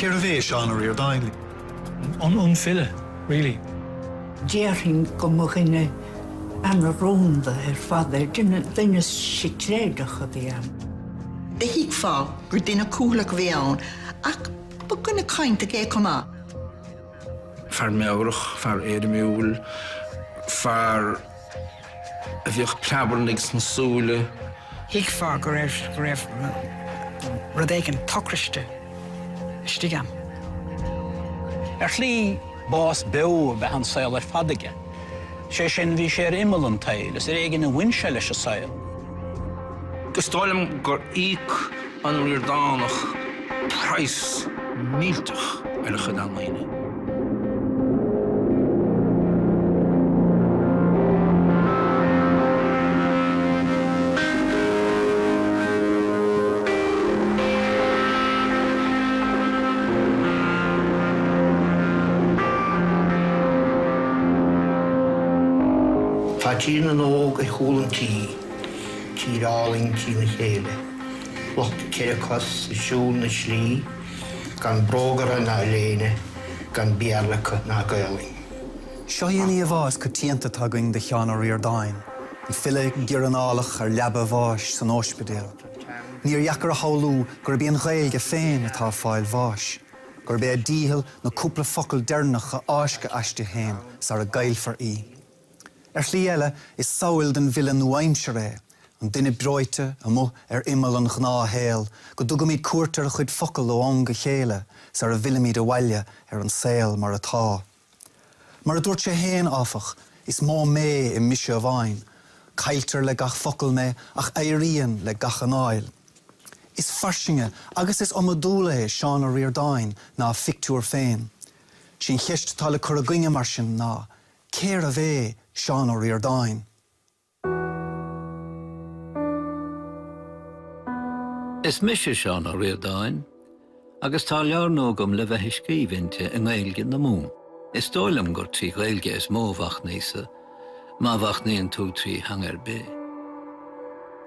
Cérbh é Seán Ó Ríordáin? An file, really. Déarfainn go mba dhuine ana-rúnda ar fad é, duine sicréideach a bhí ann. D'fheicfeá gur duine cúthaileach a bhí ann, ach ba dhuine cainteach é chomh maith. Fear meabhrach, fear éirimiúil, fear. a bhíodh preabarnaigh sna súile. Thuigfeá go raibh rud éigin tochraiste istigh ann. Ar shlí, bás beo ab ea an saol ar fad aige. Sé sin, bhí sé ar imeall an tsaoil, is ar éigin a bhain sé leis an saol. Is dóigh liom gur íoc an Ríordánach praghas millteach ar a chuid ealaíne. Tá Tír na nÓg ar chúl an Tí. Tír álainn trína chéile. Lucht ceithre cos ag siúl na slí, gan bróga orthu ná léine, gan Béarla acu ná Gaeilge. Seo í an íomhá is coitianta atá againn de Sheán Ó Ríordáin, an file giorranálach ar leaba a bháis san óispidéal. Níor dheacair a shamhlú gurb í an Ghaeilge féin atá ag fáil bháis, gurb é a dícheall na cúpla focal deireanach a fháisceadh aisti féin sara gcaillfear í. Ar shlí eile, is samhail den bhfile nua-aimseartha é, an duine breoite, amuigh ar imeall an ghnáthshaoil, go dtugaimid cuairt ar a chuid focal ó am go chéile sara bhfillimid abhaile ar an saol mar atá. Mar a dúirt sé féin, áfach, 'Is mó mé i mise amháin. Cailltear le gach focal mé ach éiríonn le gach anáil. Is fairsinge agus is iomadúla é Seán Ó Ríordáin ná a phictiúr féin. 'Sí an cheist atá le cur againne, mar sin, ná Cérbh é Seán Ó Ríordáin? Is mise Seán Ó Ríordáin agus tá leabhar nua agam le bheith ag scríobh inti i nGaeilge na Mumhan. Is dóigh liom gur trí Ghaeilge is mó a mhachnaíos-sa, má mhachnaíonn tú trí theanga ar bith.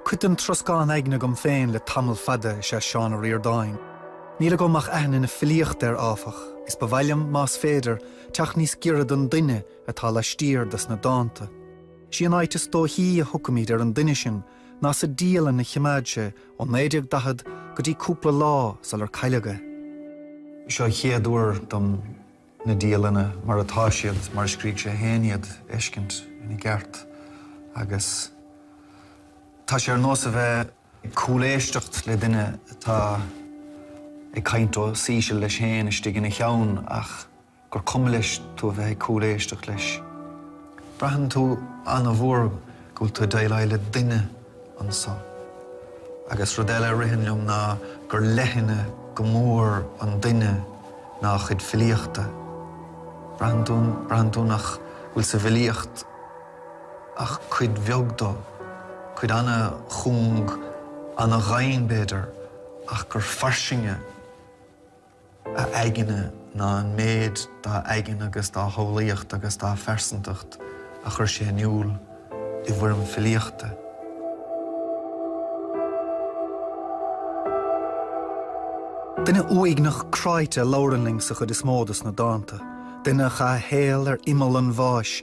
Cuid den troscán aigne agam féin le tamall fada is ea Seán Ó Ríordáin. Níl agam ach aithne na filíochta air, áfach, is ba mhaith liom, más féidir, teacht níos giorra don duine atá laistiar dos na dánta. 'Sí an áit is dóichí a thiocfaimid ar an duine sin ná sa dialann a chimeád sé ó 1940 go dtí cúpla lá sular cailleadh é. Is é an chéad uair dom na dialanna mar atá siad, mar a scrígh sé féin iad, a fheiscint ina gceart agus tá sé ar nós a bheith Ag cúléisteacht le duine atá ag caint os íseal leis féin istigh ina cheann ach gur cuma leis tú a bheith ag cúléisteacht leis. Braitheann tú an-mhór go bhfuil tú ag déileáil le duine anseo. Agus rud eile a ritheann liom ná gur leithne go mór an duine ná a chuid filíochta. Braitheann tú nach bhfuil sa bhfilíocht. ach cuid bheag de, cuid an-chúng, an-ghann, b'fhéidir, ach gur fairsinge a aigne ná an méid dá aigne agus dá shamhlaíocht agus dá phearsantacht a chuir sé in iúl i bhfoirm filíochta. Duine uaigneach cráite a labhrann linn sa chuid is mó de na dánta, duine a chaith a shaol ar imeall an bháis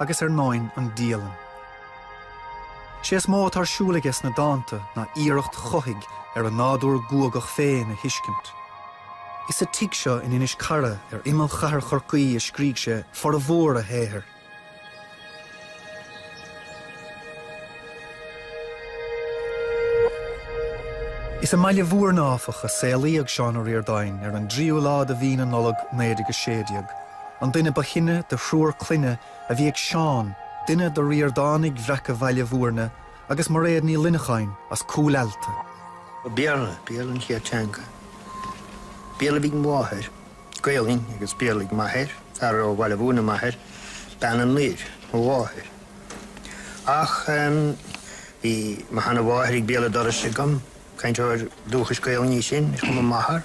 agus ar ndóin an dialann. Sé is mó atá ar siúl aige sna dánta ná iarracht chuthaigh ar a nádúr guagach féin a thuiscint. Is sa tigh seo in Inis Cara ar imeall chathair Chorcaí a scrígh sé formhór a shaothair. Is i mBaile Mhúirne, áfach, a saolaíodh Seán Ó Ríordáin ar an dtríú lá de Mhí na Nollag 1916, an duine ba shine de thriúr clainne a bhí ag Seán, duine de Ríordánaigh bhreaca Bhaile Mhúirne agus Mairéad Ní Luineacháin as Cúil Ealta. Béarla, Béarla an chéad teanga. Béarla a bhí ag mo mháthair, Gaolainn agus Béarla ag m'athair, fear ó Bhaile Mhúirne m'athair, bean anoir mo mháthair. Ach bhí mo sheanamháthair ag béal an dorais agam, cainteoir dúchais Gaolainne í sin, ar chuma m'athar,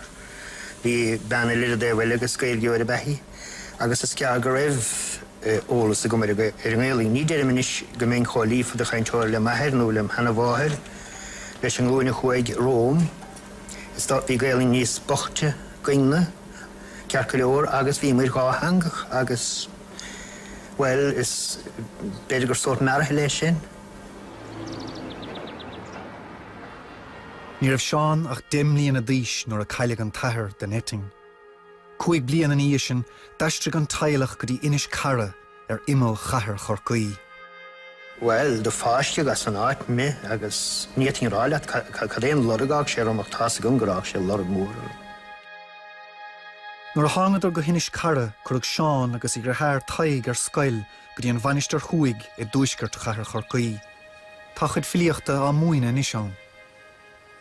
bhí bean eile ar an dtaobh eile agus Gaeilgeoir ab ea í, agus is gearr go raibh eolas agam ar an nGaolainn. Ní deirim anois go mbeinn chomh líofa de chainteoir le m'athair nó lem' sheanamháthair leis an nglúin a chuaigh romham, is bhí Gaolainn níos boichte 'gainn-ne, ceart go leor, agus bhíomar dhá theangach agus. Bhuel, is b'fhéidir gur sórt mearaithe leis sin. Ní raibh Seán ach deich mbliana d'aois nuair a cailleadh an t-athair den eitinn. Cúig bliain ina dhiaidh sin, d'aistrigh an teaghlach go dtí Inis Cara ar imeall chathair Chorcaí. Bhuel, do fáisceadh as an áit me agus ní fhéadfainn a rá leat cad é an lorg a fhág sé orm ach tá 's agam gur fhág sé lorg mór orm. Nuair a thángadar go hInis Cara cuireadh Seán agus a dhritheáir Tadhg ar scoil go dtí an Mhainistir Thuaidh i dtuaisceart chathair Chorcaí. Tá a chuid filíochta á múineadh anois ann.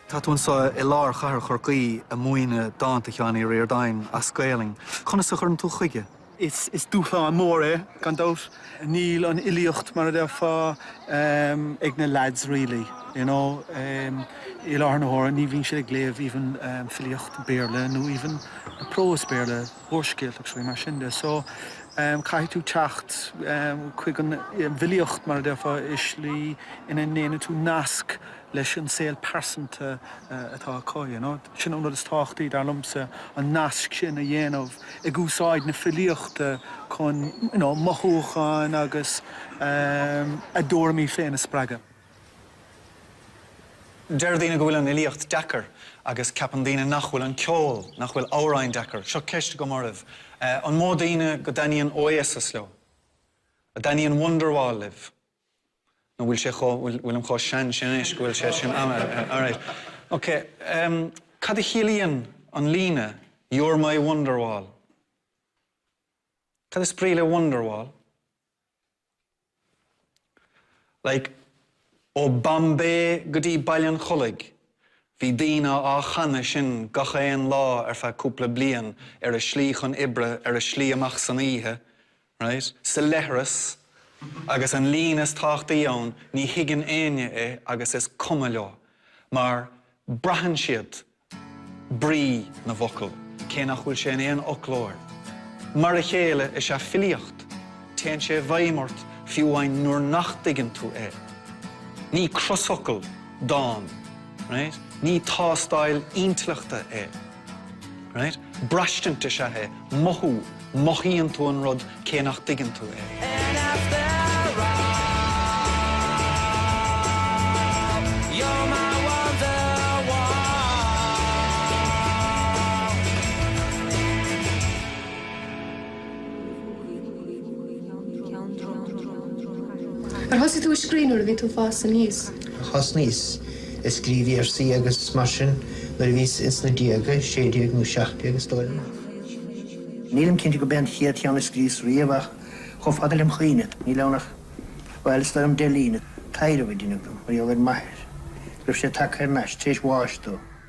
Tá tú anseo i lár chathair Chorcaí a' múineadh dánta Sheáin Uí Ríordáin as Gaolainn. Conas a chuireann tú chuige? Is dúshlán mór é, gan dabht. Níl an fhilíocht, mar a déarfá, ag na leaids really, you know. I láthair na huaire ní bhíonn siad ag léamh even filíocht Béarla nó even prós Béarla, úrscéalta agus rudaí mar sin de. So, caithfidh tú teacht chuig an bhfilíocht, mar a déarfá, i slí ina ndéanann tú nasc. leis an saol pearsanta atá acu. Sin an rud is tábhachtaí, dar liomsa, an nasc sin a dhéanamh ag úsáid na filíochta chun mothúcháin agus a dtuairimí féin a spreagadh. Deir daoine go bhfuil an fhilíocht deacair agus ceapann daoine nach bhfuil an ceol, nach bhfuil amhráin deacair. Seo ceist agam oraibh, an mó daoine go dtaitníonn Oasis leo? An dtaitníonn Wonderwall libh? nó bhfuil sé chomh, bhfuil, bhfuilim chomh sean sin anois go bhfuil sé sin ann, alright, ok, em, cad a chiallaíonn an líne You're my wonderwall? Cad is brí le wonderwall? Like, ó Bombay go dtí Baile an Chollaigh, bhí daoine á chanadh sin gach aon lá ar feadh cúpla bliain, ar a slí chun oibre, ar a slí amach san oíche, Right? sa leithreas agus an líne is tábhachtaí ann ní thuigeann éinne é agus is cuma leo mar braitheann siad brí na bhfocal cé nach bhfuil sé in aon fhoclóir. Mar a chéile is ea filíocht, téann sé i bhfeidhm ort fiú amháin nuair nach dtuigeann tú é. Ní crosfhocal dán, right? ní tástáil intleachta é. Right? Braistint is ea é, mothú, mothaíonn tú an rud cé nach dtuigeann tú é. And after all, you're my wonderwall. Ar thosaigh tú ag scríobh nuair a bhí tú ag fás aníos? Á, thosnaíos ag scríobh véarsaí agus mar sin nuair a bhíos ins na déaga, sé déag nó seacht déag is dóigh liom. Nílim cinnte gurb é an chéad cheann a scríos riamh ach chomh fada lem chuimhne níl ann ach, bhuel, is dóigh liom deich líne, taidhreamh a deineadh dom mar gheall ar m'athair go raibh sé tagtha thar n-ais tar éis bháis dó.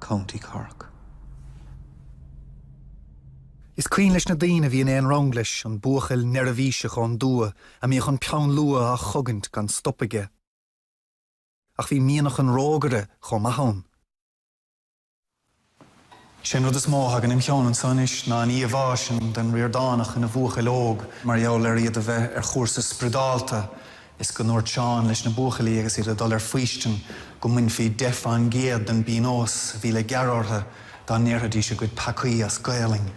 County Cork. Is cuimhin leis na daoine a bhí in aon rang leis an buachaill neirbhíseach ón dtuath a mbíodh an peann luaidhe á chogaint gan stop aige. Ach bhí mianach an rógaire chomh maith ann. Sé an rud is mó a thagann im' cheann anso anois ná an íomhá sin den Ríordánach ina bhuachaill óg mar gheall ar iad a bheith ar chúrsa spriodálta is go ndúirt Seán leis na buachaillí agus iad ag dul ar faoistin go mbainfí deich fán gcéad den bpíonós a bhí le gearradh orthu dá ndéarfaidís a gcuid peacaí as Gaelainn!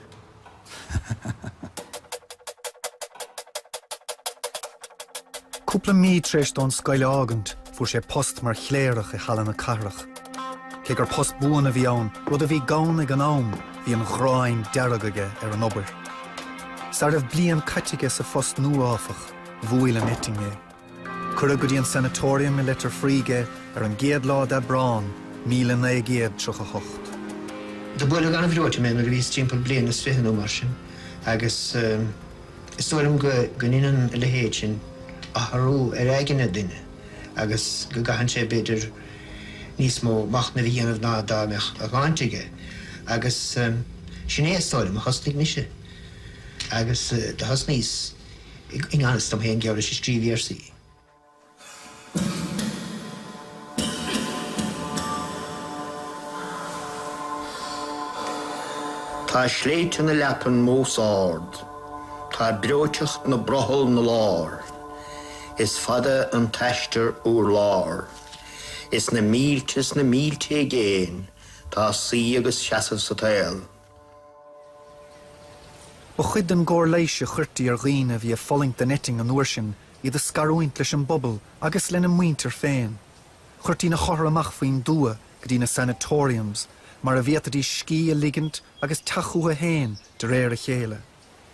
Cúpla mí tar éis dó an scoil a fhágaint fuair sé post mar chléireach i Halla na Cathrach. Cé gur post buan a bhí ann, rud a bhí gann ag an am, bhí an ghráin dearg aige ar an obair. Sara raibh bliain caite aige sa phost nua áfach, Bhuail an eitinn é. Cuireadh go dtí an sanatorium i Leitir Fraoigh é ar an gcéad lá d'Aibreán, míle naoi gcéad tríocha hocht. Do buaileadh an-bhreoite mé nuair a bhíos timpeall bliain is fiche nó mar sin, agus is dóigh liom go ndeineann a leithéid sin athrú ar aigne duine agus go gcaitheann sé, b'fhéidir, níos mó machnaimh a dhéanamh ná dá mbeadh a shláinte aige. Agus sin é, is dóigh liom, a thosnaigh mise. Agus do thosnaíos. I ngan fhios dom féin ag iarraidh bheith ag scríobh véarsaí. Tá sléibhte na leapan mós ard, tá breoiteacht na brothall na lár, is fada an t-aistear urlár, is na mílte is na mílte i gcéin tá suí agus seasamh sa tsaol. Ba chuid den gcóir leighis a chuirtí ar dhaoine a bhí ag fulaingt den eitinn an uair sin iad a scarúint leis an bpobal agus lena muintir féin. Chuirtí na hothair amach faoin dtuath go dtí na sanatoriums mar a bhféadfaidís scíth a ligint agus teacht chucu féin de réir a chéile.